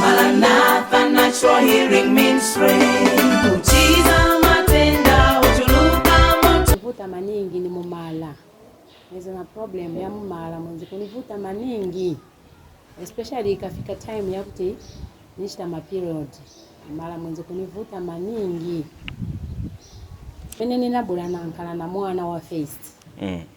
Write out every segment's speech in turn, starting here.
Maranatha Natural Healing Ministry. Uchiza matenda utuluka moto. kuvuta maningi ni mumala nizo na problem ya mumala mwenzi kunivuta maningi especially ikafika time yakuti nishita maperiod mala mwenzi kunivuta maningi mene ninabula nankala na mwana wa first Mm.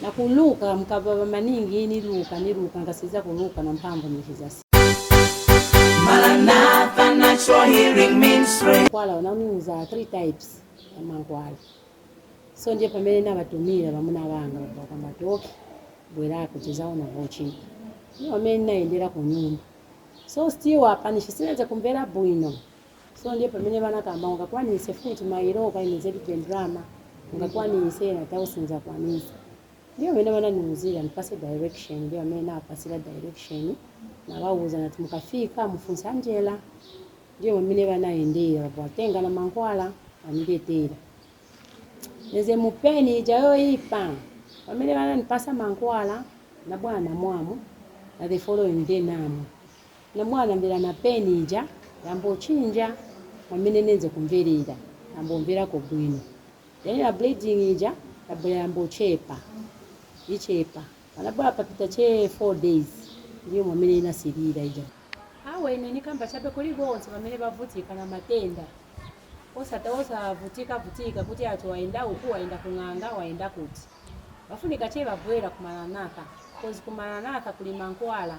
Na kuluka mukapapa maningi ni luka ni luka nkasiliza kuluka na mpamvu mu Jesus. Maranatha Natural Healing Ministry. Mankwala bananiuza three types ya mankwala. So ndiye pamene nabatumira bamuna banga bakamba ati okay bwera kuti tizaona vochita. Ndiye pamene nayendera ku nyumba. So still apa nisinze kumvera bwino. so ndiye pamene banakamba ungakwanise futi mailo organized ndrama ungakwanise ine nati awe sinizakwanisa ndiye pamene bananiuzira nipase direction ndiye pamene nabapasira direction nabauza nati mukafika mufunsa Angela ndiye pamene banayendera batenga na mankhwala baniletera neze mu pain ija yoyipa pamene bananipasa mankhwala nabwera namwa namwa the following day namwa Na mwana ambela na pain ija yambo chinja mwamene nenze kumvelera yambo mvelako bwino then na bleeding ija yabwela yambo chepa ichepa pana bwela papita che 4 days ndiye mwamene ina silira ija. Awe ine nikamba chabe kuli bonse bamene bavutika na matenda osata osa vutika vutika kuti ati wayenda uku wayenda ku ng'anga wayenda kuti. Bafunika che babwela ku Maranatha cause ku Maranatha kuli mankwala.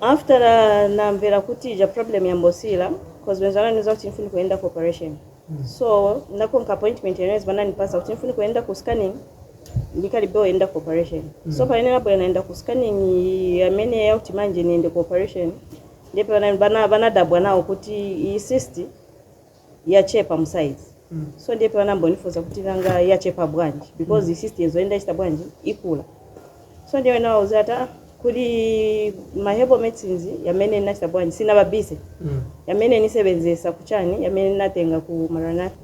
After namvera kuti ija problem yambosila cause benze bananiuza kuti nifunika kuyenda ku operation so nakonka appointment yamene bananipasa kuti nifunika kuyenda ku scanning nikalibe kuyenda ku operation so pamene nabwera nayenda ku scanning yamene yakuti manje niyende ku operation ndipo banadabwa nawo kuti iyi cyst yachepa mu size so ndiye banayambonifunsa kuti nanga yachepa bwanji because cyst yenze yenda ichita bwanji ikula so ndiye ine nabauza ati "Ah, kuli ma herbal medicines yamene nachita bwanji sinababise yamene nisebenzesa kuchani yamene natenga ku maranatha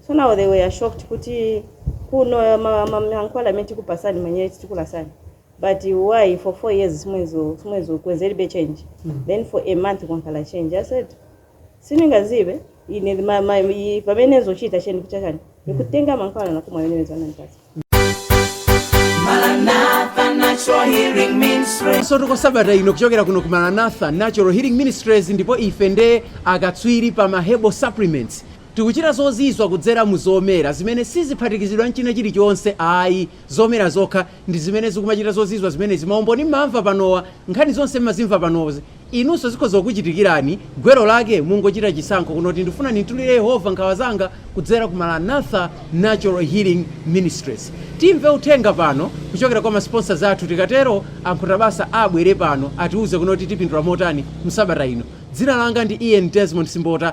so now they were shocked kuti kuno ma- ma- mankhwala amene tikupasani manje tikupasani but why for four years simwenzo simwenzo kwenzelibe change then for a month kwankhala change i said siningazibe ine ma- ma- i- vamene nenzochita chani kuchachani nikutenga mankhwala nakumwa yamene benze bananipasa Maranatha Natural Healing Ministry. zotiko sabata ino kuchokera kuno ku maranatha natural healing ministries ndipo ife ndi akatswiri pa ma herbal supplements tikuchita zozizwa kudzera mu zomera zimene siziphatikizidwa nchina chilichonse ayi zomera zokha ndi zimene zikumachita zozizwa zimene zi maumboni mmamva panowa nkhani zonse mmazimva panozi Inunso zikhoza kukuchitikirani. Gwero lake, Mungochita chisankho kunena kuti ndifuna ndimtulire Yehova nkhawa zanga kudzera ku Maranatha Natural Healing Ministries. Timve uthenga pano kuchokera kwa ma sponsors athu tikatero a Nkhutabasa abwere pano atiuze kunena kuti tipindula motani msabata ino. Dzina langa ndi Ian Desmond Simbota.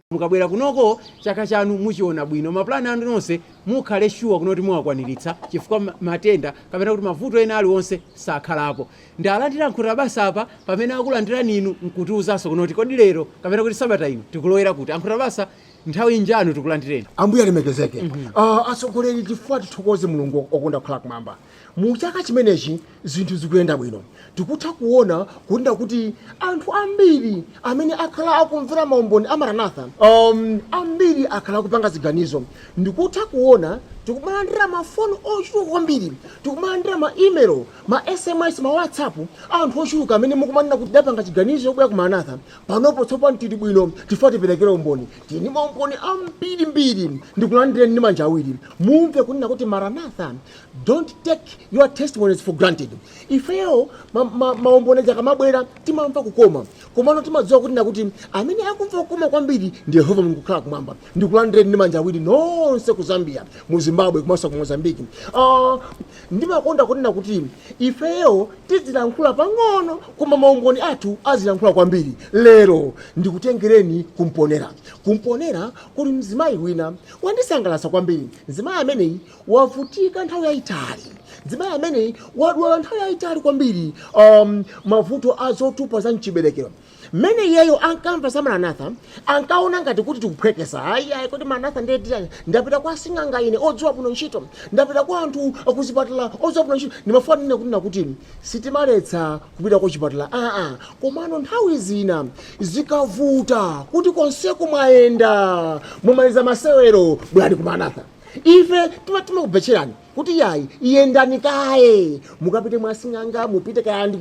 mukabwera kunoko chaka chanu muchiona bwino ma plan anu onse mukhale sure kunena kuti muwakwaniritsa chifukwa ma- matenda kapena kuti mavuto ena aliwonse sakhalapo ndalandire ankhuta basa apa pamene akulandirani inu nkutiuzanso kunena kuti kodi lero kapena kuti sabata ino tikulowera kuti ankhuta basa nthawi njanu tikulandireni ambuye alemekezeke Ah, atsogoleri chifukwa tithokoze mulungu okonda kukhala kumwamba Mu chaka chimenechi zinthu zikuyenda bwino, tikutha kuona kunena kuti anthu ambiri amene akhala akumvera maumboni a Maranatha, um, ambiri akhala akupanga ziganizo. Ndikutha kuona tikumalandira mafoni ochuluka kwambiri, tikumalandira ma email, ma SMS, ma WhatsApp, anthu ochuluka amene mukumanena kuti tidapanga chiganizo chobwera ku Maranatha, panopo tsopano tili bwino tikufuna tiperekere umboni. Tili ndi maumboni ambirimbiri, ndikulandireni ndi manja awiri. Mumve kunena kuti Maranatha don't take your testimonies for granted ifeyo maumboni akamabwera timamva kukoma komano timadziwa kunena kuti amene akumva kukoma kwambiri ndi yehova mulungu wokhala kumwamba ndikulandireni ndi manja awiri nonse ku zambia mu zimbabwe komanso ku mozambique uh, ndimakonda kunena kuti ifeyo tizilankhula pang'ono koma maumboni athu azilankhula kwambiri lero ndikutengereni ku mponela ku mponela kuli mzimayi wina wandisangalatsa kwambiri mzimayi ameneyi wavutika nthawi yayitali mzimayi ameneyi wadwala nthawi yayitali kwambiri um, mavuto a zotupa za mchiberekero mmene iyeyo ankamva za maranatha ankaona ngati kuti tikuphweketsa ayi ayi kuti maranatha ndiye chiyani ndapita kwa sing'anga ine odziwa bwino ntchito ndapita kwa anthu akuzipatala odziwa bwino ntchito ndimafuna kunena kuti sitimaletsa kupita kuchipatala aa komano nthawi zina zikavuta kuti konseko mwayenda mumaliza masewero bwerani ku maranatha ife tima timakubetcherani kuti yayi yendani kaye mukapite mwa asing'anga mupite kaya ndi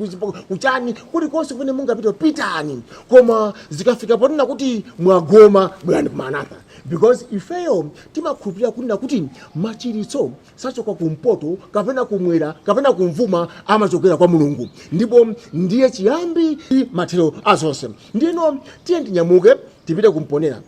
kuchani kulikonse kumene mungapite pitani koma zikafika ponena kuti mwagoma bwerani ku maranatha because ifeyo timakhulupirira kunena kuti machiritso sachoka kumpoto kapena kumwera kapena kumvuma amachokera kwa mulungu ndipo ndiye chiyambi ndi mathero azonse ndiyeno tiyeni tinyamuke tipite ku mponela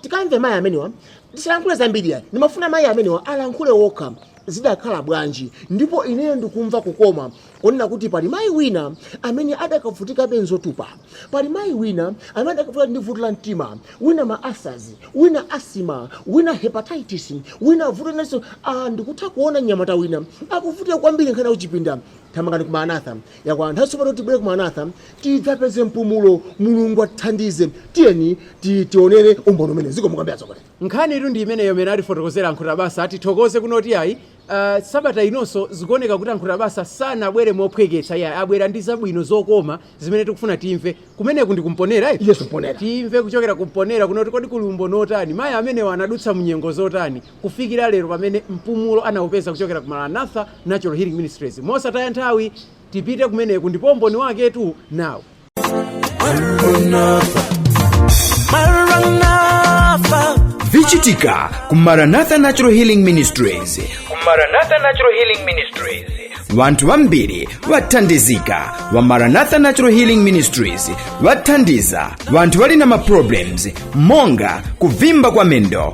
tikamve mayi amenewa Ndisalankhule zambiri ayi, ndimafuna mayi amenewa alankhule okha zidakhala bwanji ndipo ineyo ndikumva kukoma kunena kuti pali mayi wina amene adakavutikabe nzotupa, pali mayi wina amene adakavutika ndi vuto la mtima, wina ma ulcers, wina asthma, wina hepatitis, wina vuto linanso. Aaa ndikutha kuona mnyamata wina akuvutika kwambiri nkhani ya kuchipinda, thamangani ku Maranatha. Yakwana nthawi tsopano tibwere ku Maranatha tidzapeze mpumulo. Mulungu atithandize. Tiyeni ti tionere umboni umenewu. Zikomo kwambiri atsogoleri. Nkhanitu ndi imeneyo imene atifotokozera a Nkhutabasa. Tithokoze kunena kuti ayi ah, sabata inonso zikuoneka kuti a Nkhutabasa sanabwere mophweketsa iyayi, abwera ndi zabwino zokoma zimene tikufuna timve. Kumeneku ndi ku Mponela eti? Yes Mponela. Timve kuchokera ku Mponela kunena kuti kodi kuli umboni wotani, mayi amenewa anadutsa mu nyengo zotani. kufikira lero pamene mpumulo anaupeza kuchokera ku Maranatha Natural Healing Ministries. Mosataya nthawi, tipite kumeneku ndipo umboni waketu nawo. vichitika ku Maranatha Natural Healing Ministries Maranatha Natural Healing Ministries. vanthu vambiri vathandizika va Maranatha Natural Healing Ministries vathandiza vanthu vali na maproblems monga kuvimba kwa mendo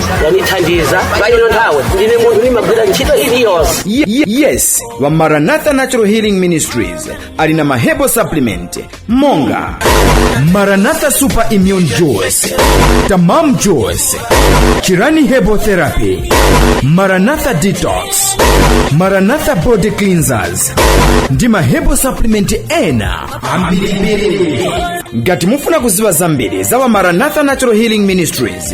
wandithandiza pa ino nthawi ndine munthu ndimagwira ntchito iliyonse Ye- ye- yes va maranatha natural healing ministries ali na maherbal supplement monga maranatha super immune juice tamam juice chirani herbal therapy maranatha detox maranatha body cleansers ndi maherbal supplement ena ambirimbiri ngati mufuna kuziva zambiri za va maranatha natural healing ministries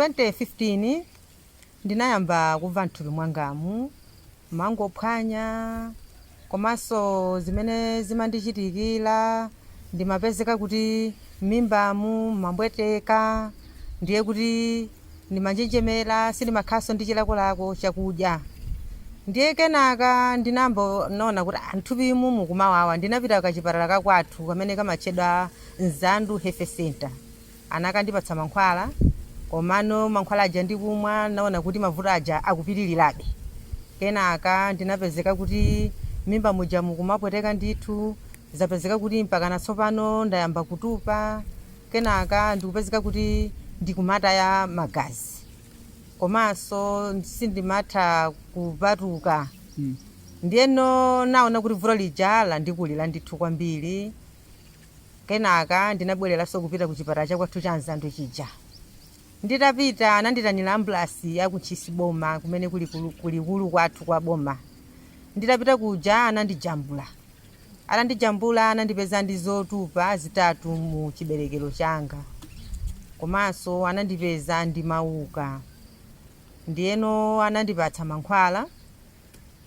2015 ndinayamba kumva mthupi mwangamu mangophwanya komanso zimene zimandichitikira ndimapezeka kuti m'mimbamu mwambweteka ndiye kuti ndimanjenjemera sindimakhalanso ndi chilakolako chakudya ndiye kenaka ndinangonaona kuti ah, mthupimu mukumawawa ndinapita kachipatala kakwathu kamene kamatchedwa Mzandu Health Center Anakandipatsa mankhwala komano mankhwala aja ndikumwa naona kuti mavuto aja akupitirirabe. Kenaka ndinapezeka kuti m'mimba muja mukumapweteka ndithu, zapezeka kuti mpakana tsopano ndayamba kutupa, kenaka ndikupezeka kuti ndikumataya magazi komanso sindimatha kupatuka. Ndiyeno naona kuti vuto lija landikulira ndithu kwambiri. Kenaka ndinabwereranso kupita ku chipatala cha kwathu cha Mzandu chija. Nditapita ananditanira ambulasi ya ku Ntchisi boma kumene kuli kulu- kulikulu kwathu kwa boma. Nditapita kuja anandijambula. Atandijambula anandipeza ndi zotupa zitatu mu chiberekero changa. Komanso anandipeza ndi mauka. Ndiyeno anandipatsa mankhwala.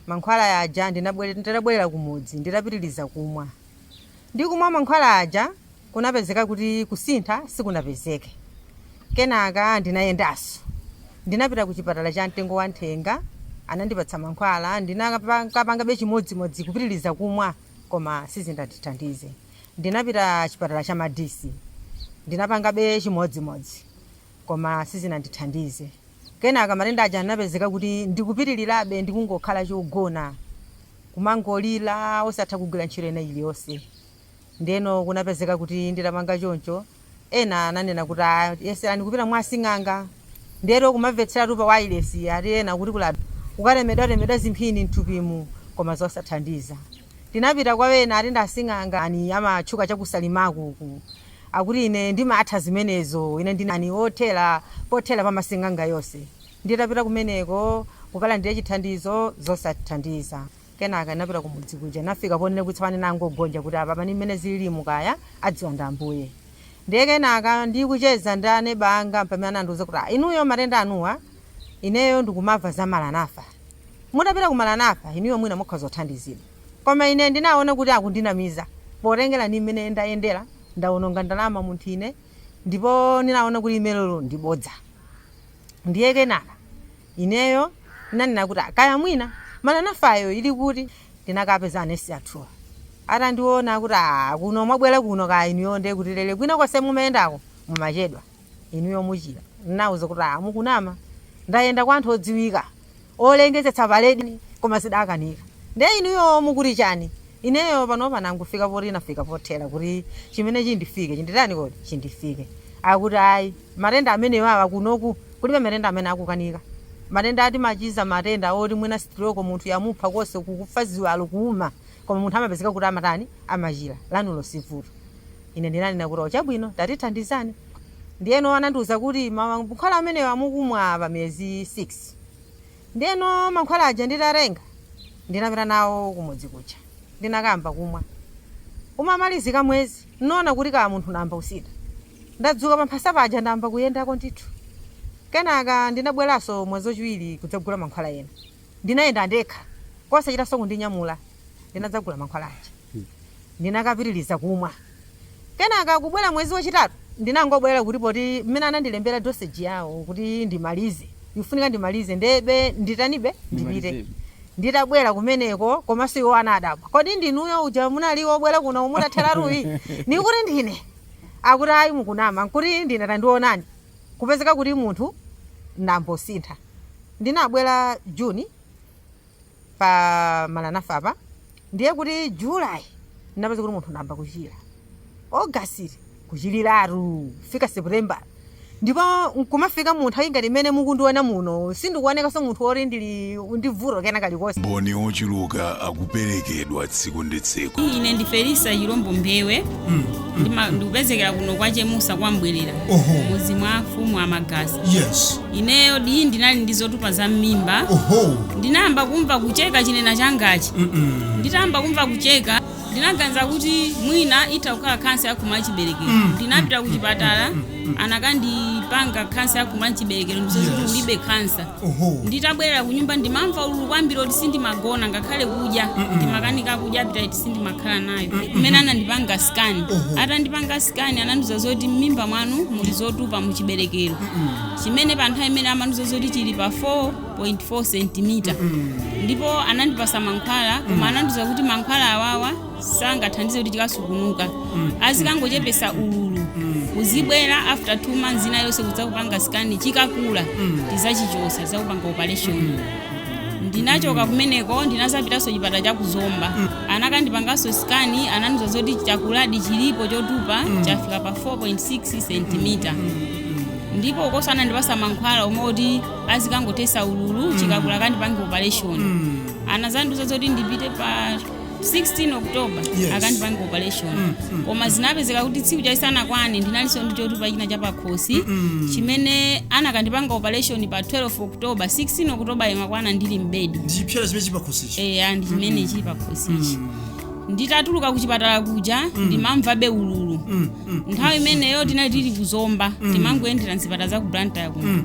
Mankhwala aja ndinabwere- nditabwerera kumudzi ndinapitiriza kumwa. ndi kumwa mankhwala aja kunapezeka kuti kusintha sikunapezeke. Kenaka ndinayendanso. Ndinapita kuchipatala cha Mtengo wa Nthenga, anandipatsa mankhwala, ndinakapangabe chimodzimodzi kupitiriza kumwa koma sizinandithandize. Ndinapita chipatala cha Madisi, ndinapangabe chimodzimodzi. koma sizinandithandize. Kenaka matenda aja anapezeka kuti ndikupitirirabe ndikungokhala chogona, kumangolira osatha kugwira ntchito ina iliyonse. Ndiyeno kunapezeka kuti nditapanga choncho, ena ananena kuti "Ah, yeserani kupita mwa asing'anga. Ndiyeno kumamvetseratu pa wailesi ati ena kuti kuja kukatemedwatemedwa zimphini m'thupimu koma zosathandiza. Ndinapita kwa ena ati ndi asing'anga ena amatchuka cha ku Salimaku uku. Akuti, Ine ndimatha zimenezo. Ine ndine wothera, pothera pa masing'anga yonse. Nditapita kumeneko, kukalandira chithandizo, zosathandiza. Kenaka ndinapita ku mudzi kuja, ndinafika ponena kuti tsopano ndinangogonja, kuti apapa ndi mmene zililimu kaya, adziwa ndi Ambuye. Ndiye kenaka, ndikucheza ndi aneba anga, mpamene anandiuza kuti, Ah, inuyo matenda anuwa, ineyo ndikumamva za Maranatha. Mutapita ku Maranatha, inuyo mwina mukhoza kuthandizidwa. Koma ine ndinaona kuti akundinamiza. Potengera ndi mmene ndayendera, ndaononga ndalama munthu ine ndipo ndinaona kuti limenelo ndi bodza. Ndiye kenaka ineyo ndinanena kuti ah, kaya mwina Maranathayo ili kuti? Ndinakapeza anesi athuwo. Atandiona akuti ah, kuno mwabwera kuno kaya inuyo ndiye kuti dere kwina konse mumayendako mumachedwa, inuyo muchira. Ndinawauza kuti ah, mukunama. Ndayenda kwa anthu odziwika. olengezetsa paledi koma zidakanika nde inuyo mukuti chani ineyo panopa nangofika poti nafika pothera kuti chimene chindifikire chinditani kodi chindifikire akuti ayi matenda amenewa awa kunoku kulibe matenda amene akukanika matenda athu timachiza matenda oti mwina sitiroko munthu yamupha konse kuno kufa ziwalo kuuma koma munthu amapezeka kuti amatani amachira lanuli sivuto Ine ndinanena kuti, O, chabwino, tatithandizani. Ndiyeno anandiuza kuti, Mankhwala amenewa mukumwa pa miyezi 6. Ndiyeno mankhwala aja nditatenga, ndinapita nawo kumudzi kuja. Ndinakayamba kumwa. Ukumalizika mwezi, n'naona kuti kaya munthu nayamba kusintha. Ndadzuka pamphasa paja ndayamba kuyendako ndithu. Kenaka ndinabweranso mwezi wachiwiri kudzagula mankhwala ena. Ndinayenda ndekha, kosachitanso kundinyamula. Ndinadzagula mankhwala aja. Ndinakapitiriza kumwa. Kenaka kubwera mwezi wachitatu, ndinangobwera kuti poti mmene anandilembera dosage yawo kuti ndimalize, ifunika ndimalizebe nditanibe, ndipite. Ndimalize. Nditabwera kumeneko komanso iwo anadabwa, kodi ndinuyo uja munali wobwera kuno mutatheratu uyi? Nkuti ndine. Akuti ayi mukunama. Nkuti ndine tandionani. Kupezeka kuti munthu nayambo sintha. Ndinabwera June pa Maranatha apa, ndiye kuti July ndinapeza kuti munthu nayamba kuchira. August kuchiriratu kufika September. Ndipo n'kumafika mu nthawi ngati imene mukundiona muno, sindikuonekanso munthu woti ndili ndi vuto kena kalikonse umboni wochuluka ukuperekedwa tsiku ndi tsiku ine ndi felisa chilombo mbewe Ndima- ndikupezekera kuno kwa chemusa kwambwerera Oho. mudzi mwa afumu a Magasi yes ineyo diyi ndinali ndi zotupa za mmimba oho ndinayamba kumva kucheka chinena changachi nditayamba kumva kucheka ndinaganiza kuti mwina itha kukhala khansa yakhomo la chiberekero ndinapita ku chipatala anakandipanga khansa yakhomo la chiberekero ndizoti Yes. ulibe khansa Oho. nditabwerera ku nyumba ndimamva ululu kwambiri oti sindimagona ngakhale kudya ndimakanika kudya appetite sindimakhala nayo mmene anandipanga scan Oho. atandipanga scan anandiuza zoti m'mimba mwanu muli zotupa mu chiberekero chimene pa nthawi imene amandiuza zoti chili pa 4 4.4 sentimita ndipo anandipasa mankhwala koma anandiuza kuti mankhwala awawa sangathandize kuti chikasungunuke azikangochepesa ululu uzibwera after 2 months ina yonse kudzakupanga sikani chikakula tizachichosa tizakupanga operation ndinachoka kumeneko ndinazapitanso chipata cha kuzomba anakandipanganso sikani anandiuza zoti chakuladi chilipo chotupa chafika pa 4.6 sentimita ndipo ukonso anandipasa mankhwala omwe oti azikangochepesa ululu chikakula akandipange operation anazandiuza zoti ndipite pa 16 october Yes. akandipange operation koma zinapezeka kuti tsiku lake lisanakwane ndinalinso ndi chotupa china chapakhosi chimene anakandipanga operation pa 12 october 16 october imakwana ndili mbedi ndi chipsera chimene chili pakhosichi eya ndi chimene chili pakhosichi nditatuluka kuchipatala kuja ndimamvabe ululu nthawi imeneyo tinali tili ku zomba timangoyendera mzipatala za ku blantyre kuno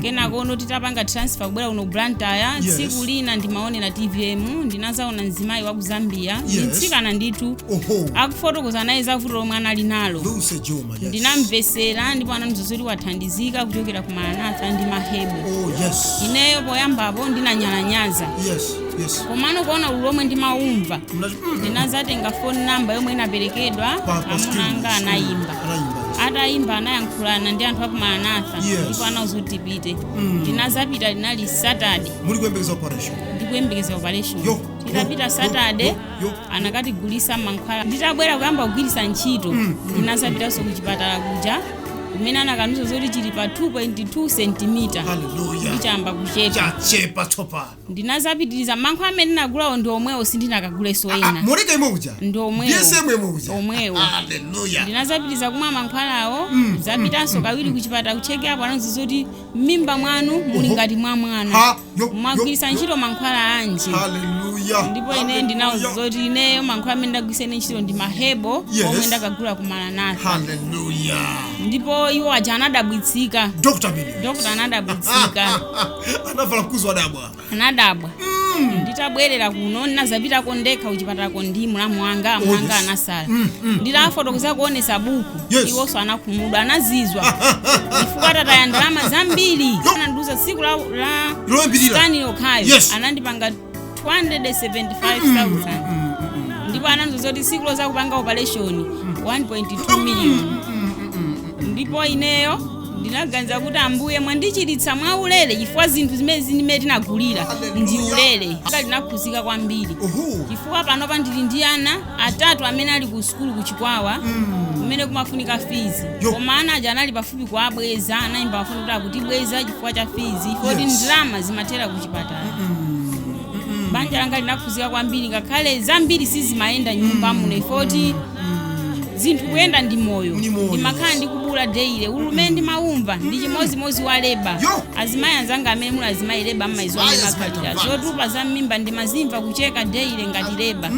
kenakono titapanga transfer kubwera kuno ku blantyre Yes. tsiku lina ndimaonera tvm ndinazaona mzimayi wa ku zambia ndi Yes. mtsikana ndithu oho akufotokoza naye za vuto lomwe anali nalo luse juma yes. ndinamvesera ndipo anandiuza zoti wathandizika kuchokera ku maranatha ndi mahebo oh yes ineyo poyambapo ndinanyalanyaza yes yes komano kuona ululu omwe ndimaumva ndinazatenga phone number yomwe inaperekedwa amuna anga anayimba atayimba anayankhulana ndi anthu aku maranatha Yes. ndipo anauza kuti tipite ndinazapita linali saturday muli kuyembekeza operation ndikuyembekeza operation Yo, yo, titapita yo, saturday yo, yo. anakatigulisa mankhwala nditabwera kuyamba kugwirisa ntchito ndinazapitanso ku chipatala kuja kumene anakandiuza zoti chili pa 2.2 sentimita Hallelujah. ndiye chayamba kuchepa chachepa tsopano Ndinazapitiliza mankhwala amene ndinagulawo ndi omwewo sindinakaguleso Ah, ah, ena moleka imwe uja ndi omwewo Ndiye same imwe uja omwewo Hallelujah. ndinazapitiliza kumwa mankhwalawo nzapitanso kawiri kuchipatala kuchekapu anandiuza zoti m'mimba mwanu muli Oho. ngati mwa mwana Ha, yo, yo, mwagwiritsa yo. ntchito mankhwala anji Hallelujah. ndipo ine Hallelujah. ndinawauza zoti ineyo mankhwala amene ndagwiritsa ine ntchito ndi mahebo Yes. omwe ndakagula ku maranatha Hallelujah. ndipo iwo aja anadabwitsika Dr. Billy. dokota anadabwitsika anavala mkuzi wadabwa anadabwa nditabwerera kuno ndinazapitako ndekha kuchipatalako ndi mlamu wanga amuna anga yes. anasala nditafotokoza kuonesa buku Yes. iwonso anakhumudwa anazizwa chifukwa tataya ndalama zambiri anandiuza tsiku la, la loyambirira skani yokhayo Yes. anandipanga 275,000 ndipo anandiuza zoti siku lozakupanga operation 1.2 million ndipo ineyo ndinaganiza kuti ambuye mwandichiritsa mwa ulere chifukwa zinthu zimene zimene tinagulira ndi ulere Saka ndinakhuzika kwambiri Uhu. chifukwa panopa ndili ndi ana atatu amene ali ku sukulu ku chikwawa kumene kumafunika fizi Yo. koma ana aja anali pafupi kuwabweza anayimba mafoni kuti akutibweza chifukwa cha fizi poti Yes. ndalama zimathera ku chipatala banja langa linakhuzika kwambiri ngakhale zambiri sizimayenda nyumba muno ifoti zinthu kuyenda ndi moyo Ndi moyo. ndimakhala ndikubuula daily ululu umene ndimaumva ndi chimodzimodzi wa leba Yo! azimayi anzanga amene muli azimayi leba mmayiziwa Ayi, mmene azimayi imakhalira tamvana. zotupa za mmimba ndimazimva kucheka daily ngati leba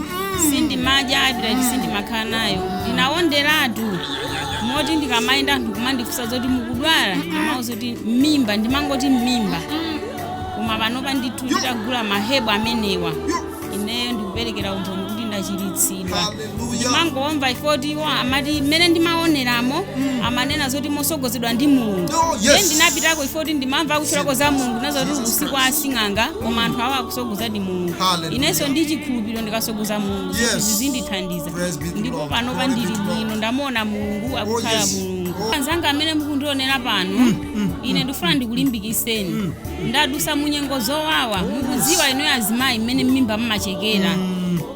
sindimadya appetite sindimakhala nayo ndinawonderatu moti ndikamayenda anthu kumandifunsa zoti mukudwala ndimauza kuti mmimba ndimangoti mmimba koma panopa ndithu nditagula mahebo amenewa ineyo ndikuperekera umboni kuti ndachiritsidwa Hallelujah. ndimangomva ifoti iwo amati mmene ndimaoneramo amanena zoti mosogozedwa ndi mulungu Oh, yes. Ndiye ndinapitako ifoti ndimamva akutchulako za mulungu nazoti uku si kwa sing'anga koma anthu awo akusogozadi mulungu Hallelujah. inenso ndi chikhulupiriro ndikasogoza mulungu Yes. zinthu zizindithandiza Praise be the ndipo Lord. panopa Glory be ndili the Lord. bwino ndamuona mulungu akukhala yes. mulungu Oh. anzanga amene mukundionera pano ine ndifuna ndikulimbikiseni ndadusa munyengo zowawa mukuziwa inuyo azimayi mmene mmimba mmachekera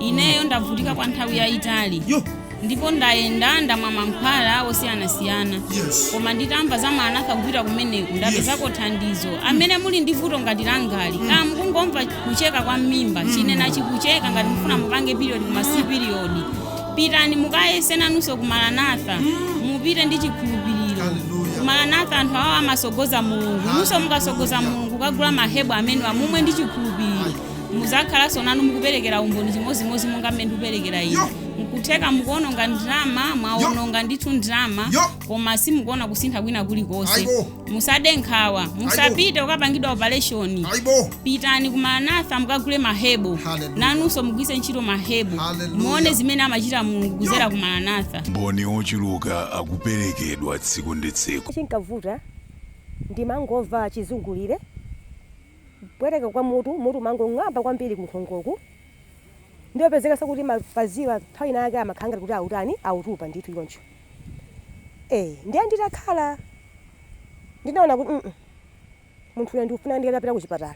ineyo ndavutika kwa nthawi yayitali Yo. ndipo ndayenda ndamwa mankhwala osiyanasiyana Yes. koma nditamva za maranatha kupita kumeneku ndapezako thandizo amene muli ndi vuto ngati langali kaya mukungomva kucheka kwa mmimba chimene chikucheka ngati mufuna mupange period koma si period Pitani mukayese nanunso ku Maranatha. Mupite ndi chikhulupiriro. Hallelujah. Ku Maranatha anthu awo amatsogoza Mulungu. Inunso mukatsogoza Mulungu kukagula mahebo amenewa mumwe ndi chikhulupiriro. Muzakhalanso nanu mukuperekera umboni chimodzimodzi monga mmene ndikuperekera ine. Yo. Nkutheka mukuononga ndalama, mwaononga ndithu ndalama, Yo. koma simukuona kusintha kwina kulikonse. Aibo. musade nkhawa musapite kukapangidwa opereshoni pitani ku maranatha mukagule mahebo Hallelujah. nanunso mugwise ntchito mahebo Hallelujah. muone zimene amachita mulungu kuzera ku maranatha maumboni ochuluka akuperekedwa tsiku ndi tsiku chinkavuta ndimangomva chizungulire kupweteka kwa mutu mutu umangong'amba kwambiri kunkhongoku ndiye kupezeka zakuti mapaziwa nthawi inayake amakhala ngati kuti akutani akutupa ndithu choncho ee ndiye nditakhala ndinaona kuti mm munthu uyu ndikufuna nditapita kuchipatala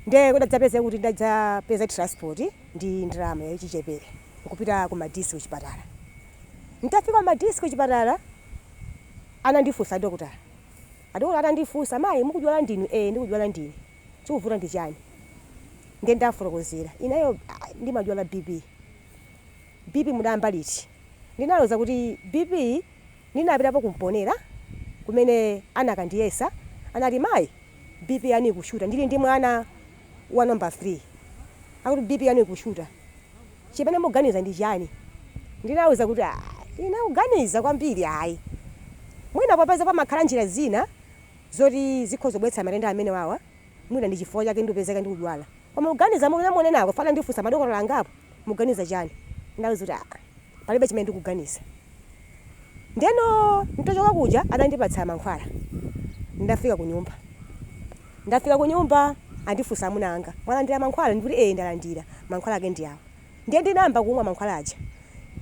ndiye kudadzapezeka kuti ndadzapeza transport ndi ndalama yachichepere nkupita ku madisi kuchipatala ntafika madisi kuchipatala anandifunsa adokotala adokotala atandifunsa mayi mukudwala ndinu ee ndikudwala ndine chikuvuta ndi chani ndiye ndafotokozera inayo ah, ndimadwala bp BP mudayamba liti? Ndinawauza kuti BP ndinapitapo ku Mponela kumene anakandiyesa anati mayi BP yanu ikushuta ndili ndi mwana wa number 3 akuti BP yanu ikushuta chimene muganiza ndi chani? Ndinawauza kuti ayi ine kuganiza kwambiri ayi mwina popeza pamakhala njira zina zoti zikhoza kubweretsa matenda amenewawa mwina ndi chifukwa chake ndikupezeka ndikudwala koma kuganiza monga munenako pafupifupi andifunsa madokotala angapo. muganiza chani? Ndawauza kuti aa palibe chimene ndikuganiza. Ndeno ntachoka kuja atandipatsa mankhwala ndafika kunyumba. Ndafika kunyumba andifunsa amuna anga mwalandira mankhwala ndikuti ee ndalandira mankhwala ake ndi awa. Ndiye ndinayamba kumwa mankhwala aja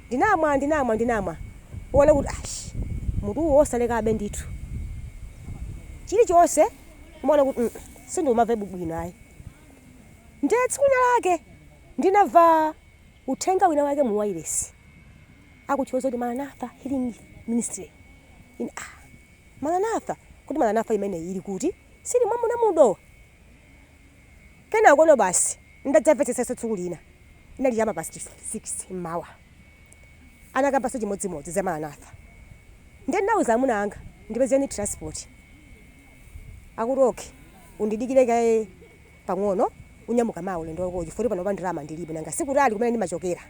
ndinamwa ndinamwa ndinamwa kuona kuti ash mutuwu osalekabe ndithu chilichonse ndimaona kuti mm sindimamvabe bwino ayi. Ndiye tsiku lina lake Ndinamva uthenga wina wake mu wailesi akutchula zakuti Maranatha Healing Ministry. Ine, ah, Maranatha? Kodi Maranatha imeneyi ili kuti? Sili mom'muno mu Dowa? Kenakono basi ndadzamvetsetsanso tsiku lina. Inali cha ma past 6 mmawa. Anakambanso chimodzimodzi za Maranatha. Ndiye ndinauza amuna anga, ndipezeni transport. Akuti, Okay, undidikire kaye. pang'ono unyamuka mawa ulendo wakowo chifukwa kuti panopa ndalama ndilibe nanga si kutali kumene ndimachokera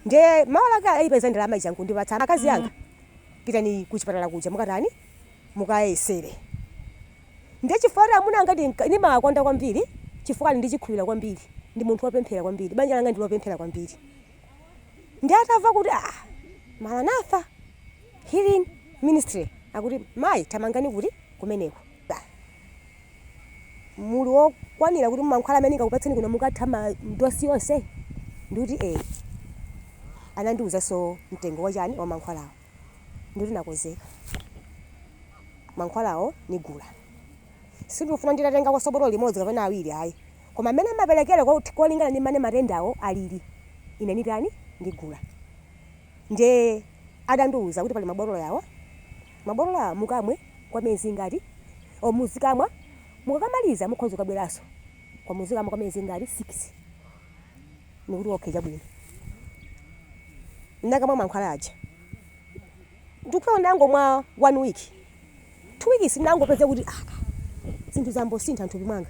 nde mawa lake ayipeza ndalama ija nkundipatsa akazi anga pitani ku chipatala kuja mukaatani mukayesere nde chifukwa kuti amuna anga ndinka- ndimawakonda kwambiri chifukwa ali ndi chikhulupiriro kwambiri ndi munthu wopemphera kwambiri banja langa ndi lopemphera kwambiri ndiye atamva kuti ah maranatha healing ministry akuti mayi thamangani kuti kumeneko muli okwanira kuti mankhwala amene ndingakupatseni kuno mukatha ma dosi yonse ndikuti ee anandiwuzanso mtengo wachani wa mankhwalawo ndikuti nakonzeka mankhwalawo nigula sindikufuna nditatengakonso botolo limodzi kapena awiri ayi koma mmene amaperekera ko- kolingana ndi mmene matendawo alili ine nitani ndigula Nde adandiuza kuti pali mabotolo awa, mabotolo awa mukamwe kwa miyezi ingati, or muzikamwa, mukakamaliza mukhoza kukabweranso koma muzikamwa kwa miyezi ingati, 6. Ndikuti okay chabwino. Ndinakamwa mankhwala aja. Ndikufika kuti ndangomwa one week, two weeks ndangopeza kuti ah, zinthu zayamba kusintha mthupi mwanga.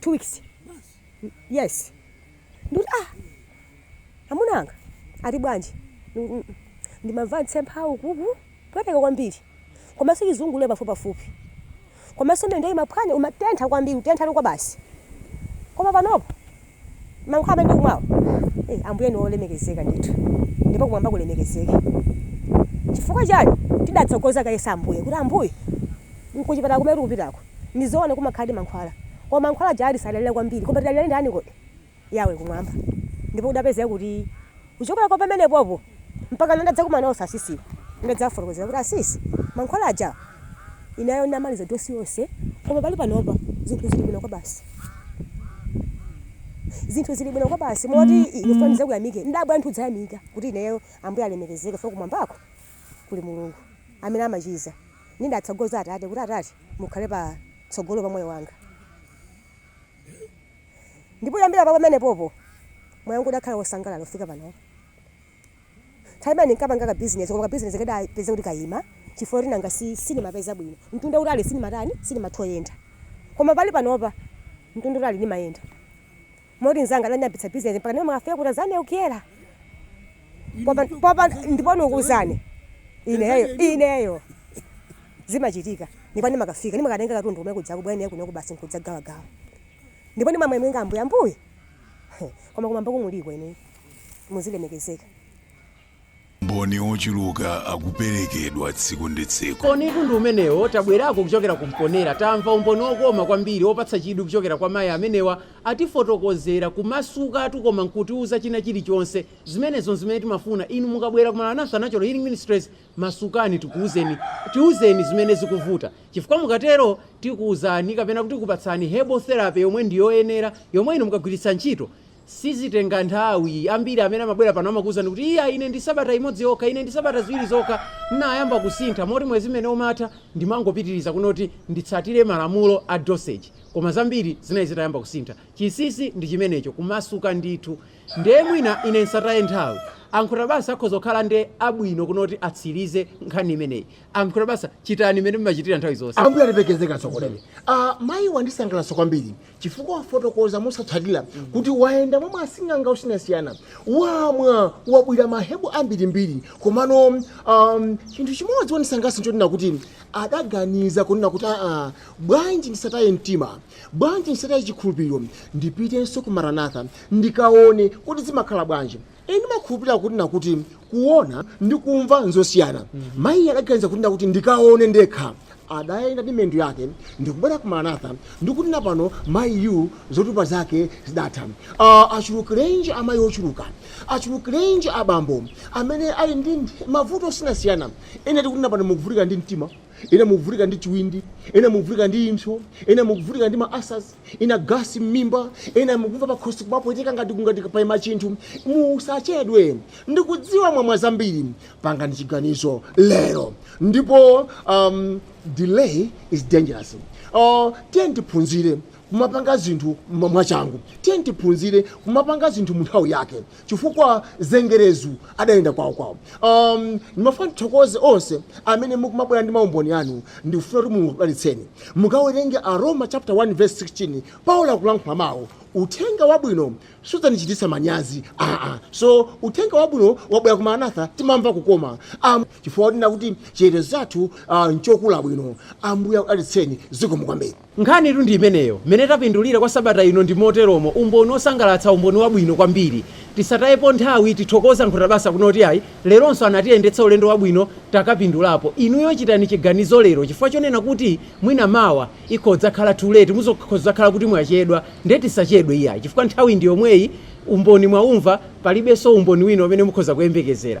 Two weeks. yes ndikuti ah amuna anga ati bwanji Mm, mm, mm. ndimamva mtsempha ukuku kupweteka kwambiri komanso chizungulire pafupipafupi komanso miyendo imaphwanya imatentha kwambiri kutentha kwabasi koma panopo mankhwala amene ndikumwawo eh, ambuye ni olemekezeka ndithu ndipo kumwamba kulemekezeke chifukwa chiyani tidatsogoza kaye za ambuye kuti ambuye kuchipatala kumene tikupitako Ndi zoona kumakhaladi mankhwala, koma mankhwala aja tisadalire kwambiri. Koma tidalire ndani kodi? Yahweh kumwamba. Ndipo kudapezeka kuti kuchokera kwa pamenepopo mpakana ndadzakumana nawo asisiwa, ndidadzawafotokozera kuti, Asisi, mankhwala aja ineyo ndinamaliza dosi yonse, koma pali panopa zinthu zili bwino kwabasi. Zinthu zili bwino kwabasi moti ndikufuna ndidzakuyamike? ndidabwera ndithu kudzayamika kuti ineyo? Ambuye alemekezeke chifukwa kumwambako kuli Mulungu amene amachiza. Ndidatsogoza atate kuti, Atate, mukhale pa tsogolo pa moyo wanga. Ndipo kuyambira pa pamenepopo, moyo wanga udakhala wosangalala kufika panopa. Nthawi imene ndinkapanga ka bizinezi, koma ka bizinezi kadapezeka kuti kayima chifukwa choti nanga si sinimapeza bwino. Mtunda wautali sinimatani, sinimatha kuyenda. Koma pali panopa, mtunda wautali nimayenda. Moti mzanga anandiyambitsa business mpaka ndimafika ku Tanzania ku Kyela. Popa popa ndipo ndikuuzani. Ineyo ineyo. Zimachitika. Ndipo ndimakafika ndimakatenga katundu kumene kuja kubwera kuno basi nkudzagawagawa. Ndipo ndimamwemenga ambuye ambuye. Koma kumwambako muliko inu. Muzilemekezeka. maumboni ochuluka akuperekedwa tsiku ndi tsiku. Umbonitu ndi umenewo. Tabwerako kuchokera ku Mponela. Tamva umboni okoma kwambiri, opatsa chidwi kuchokera kwa mayi amenewa. Atifotokozera, kumasukatu koma nkutiuza china chilichonse. Zimenezo nzimene timafuna. Inu mukabwera ku Maranatha Natural Healing Ministries, masukani tikuuzeni, tiuzeni zimene zikuvuta. Chifukwa mukatero, tikuuzani kapena kuti tikupatsani herbal therapy yomwe ndi yoyenera, yomwe inu mukagwiritsa ntchito, Sizitenga nthawi. Ambiri amene amabwera pano amakuuzani kuti, Iyayi, ine ndi sabata imodzi yokha, ine ndi sabata ziwiri zokha, ndinayamba kusintha moti mwezi umene umatha ndimangopitiriza kunoti nditsatire malamulo a dosage. Koma zambiri zinali zitayamba kusintha. Chinsinsi ndi chimenecho, kumasuka ndithu. Ndiye mwina ine ndisataye nthawi. A Nkhotabasa akhoza kukhala ndiye abwino kunoti atsirize nkhani imeneyi. A Nkhotabasa, chitani mmene mumachitira nthawi zonse. Ambuye alemekezeke, atsogoleri. A, mayi wandisangalatsa kwambiri. chifukwa wafotokoza mosapsatira kuti wayenda mwa asing'anga osiyanasiyana wamwa wabwira mahebo ambirimbiri komano um, chinthu chimodzi wanisangalatsa nchonena kuti adaganiza kunena kuti aa bwanji ndisataye mtima bwanji ndisataye chikhulupiriro ndipitenso ku maranatha ndikaone kuti zimakhala bwanji ine ndimakhulupirira kuti nakuti kuona ndi kumva nzosiyana mayiyo adaganiza kuti nakuti ndikaone ndekha adayenda ndi miyendo yake ndikubwera ku maranatha ndikuti na pano mayiyu zotupa zake zidatha uh, achulukirenji amayi ochuluka achulukirenji abambo amene ali ndi ndi mavuto osiyanasiyana ena tikuti na pano mukuvutika ndi mtima ena mukuvutika ndi chiwindi ena mukuvutika ndi impso ena mukuvutika ndi ma ulcers ena gasi mmimba ena mukumva pakhosi kumapweteka ngati kungati paima chinthu musachedwe ndikudziwa mwamwa zambiri pangani chiganizo lero ndipo um, delay is dangerous uh, tiyeni tiphunzire kumapanga zinthu mwa- mwachangu tiyeni tiphunzire kumapanga zinthu mu nthawi yake chifukwa zengerezu adalinda kwawukwawu um, ndimafuna tithokoze onse amene mukumabwera ndi maumboni anu ndikufuna kuti mulungu akudalitseni mukawerenge aroma chapter 1 verse 16 paulo akulankhula mawu uthenga wabwino sudzandichititsa manyazi aa so uthenga wabwino wabwera ku maranatha timamva kukoma um, chifukwa kuti nakuti chitetezo chathu uh, nchokula bwino ambuye akudalitseni zikomo kwambiri Nkhanitu ndi imeneyo. Mmene tapindulira kwa sabata ino ndi moteromo, umboni wosangalatsa, umboni wabwino kwambiri. Tisatayepo nthawi, tithokoze a Nkhutabasa kunena kuti ayi, leronso anatiyendetsa ulendo wabwino, takapindulapo. Inuyo chitani chiganizo lero chifukwa chonena kuti mwina mawa ikhoza kudzakhala too late, muzakhoza kudzakhala kuti mwachedwa. Ndiye tisachedwe iyayi chifukwa nthawi ndi yomweyi, umboni mwaumva, palibenso umboni wina umene mukhoza kuyembekezera.